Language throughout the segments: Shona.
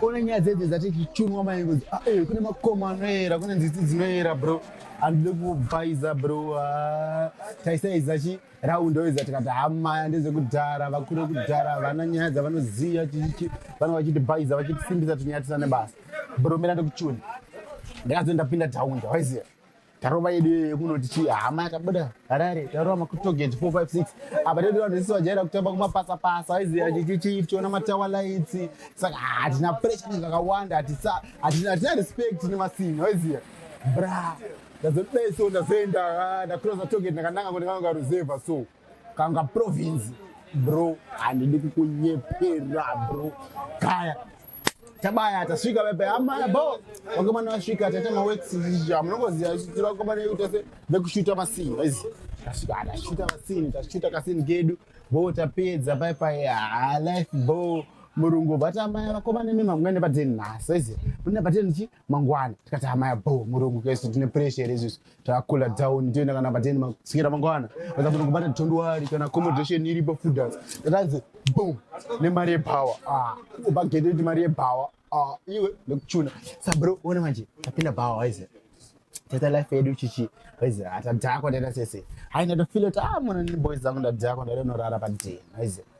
Kone nyaya dzedze dzati chichunwa mai ngozi ah, eh, kune makoma anoera kune nziti dzinoera bro handide kubvaiza bro ah, taisaiza chi raundi oiza tikati hamaya ah, ndezvekudhara vakure kudhara vana nyaya dzavanoziva chichichi vana vachiti bhaiza vachitisimbisa tonyatisa nebasa bro mira ndekuchuni ndakazoenda pinda taundi waiziva tarova yedu yekunoti chii hama yakabuda harare tarova makutogeti 456 apa tedu vanhu vese vajaira kutamba kumapasa pasa aiziva chichichii tichiona matawa lights saka hatina pressure zvakawanda hatina respect nemasini waiziva bra ndazodai so ndazoenda ah, ndacrosa togeti ndakananga kuti ndakanga ruzevha so kanga province bro handidi kukunyepera bro kaya tabaya tasvika vepe amaya bo vakomana vasvika taita mawexija munongoziva vakomana vedu tese vekushuta masini vaizi tasvika tashuta masini tashuta kasini kedu bo tapedza pai pai ha life bo murungu vati amaya vakomana imi mamwene patenhasi vaizi mune patenhi chi mangwana tikati hamaya bo murungu kesi tine pressure here izvizvi takakula down toenda kana pateni masikira mangwana aa tinokubata tondwari kana accommodation iripo foodas tatanzi boom nemari yebhawa ah, ubva gete kuti mari yebhawa ah, iwe nekuchuna sabro ona manje tapinda bhawa waize tata life yedu chichi waize atadhakwa ah, taita sese haina tofilo kuti a ah, mwana neboys dzangu ndadhakwa ndaida unorara padeni waize ah,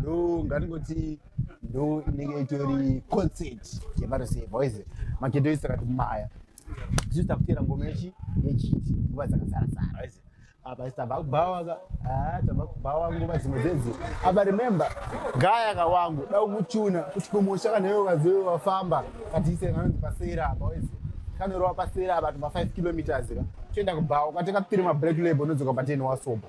ndo ngatingoti ndo inenge itori concert yevarusevha waize makedo isi akati maya tisu takutera ngoma yechi yechiti nguva dzakasara sara waize apa isi tava kubhawaka ah, tava kubhawa nguva dzimwe dzedzi apa remember gaya kawangu da kuchuna kuti kumusha kana iwe ukazive wafamba katiise kanonzi pasera apa waize kanorova pasera apa tuma 5 kilometers ka toenda kubhawa ukateka tiri mabreak label unodzoka pateni wasoba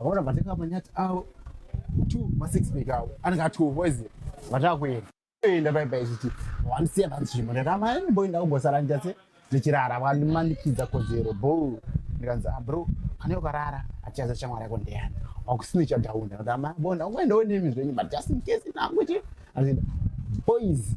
Vaona vatenga manyati avo two masix pack avo anenge atuvo izi vatakuenda enda paipai zvichi wandisiya panzvimbo ndakama mboenda kugosara ndichase ndichirara vandimanikidza kodzero bo ndikanzi ah, bro kana ukarara achaza shamwari yako ndeyani wakusina ichadhaunda ndakama bonda ungaendawo nemi zvenyu but just in case nangu chi azvinda boys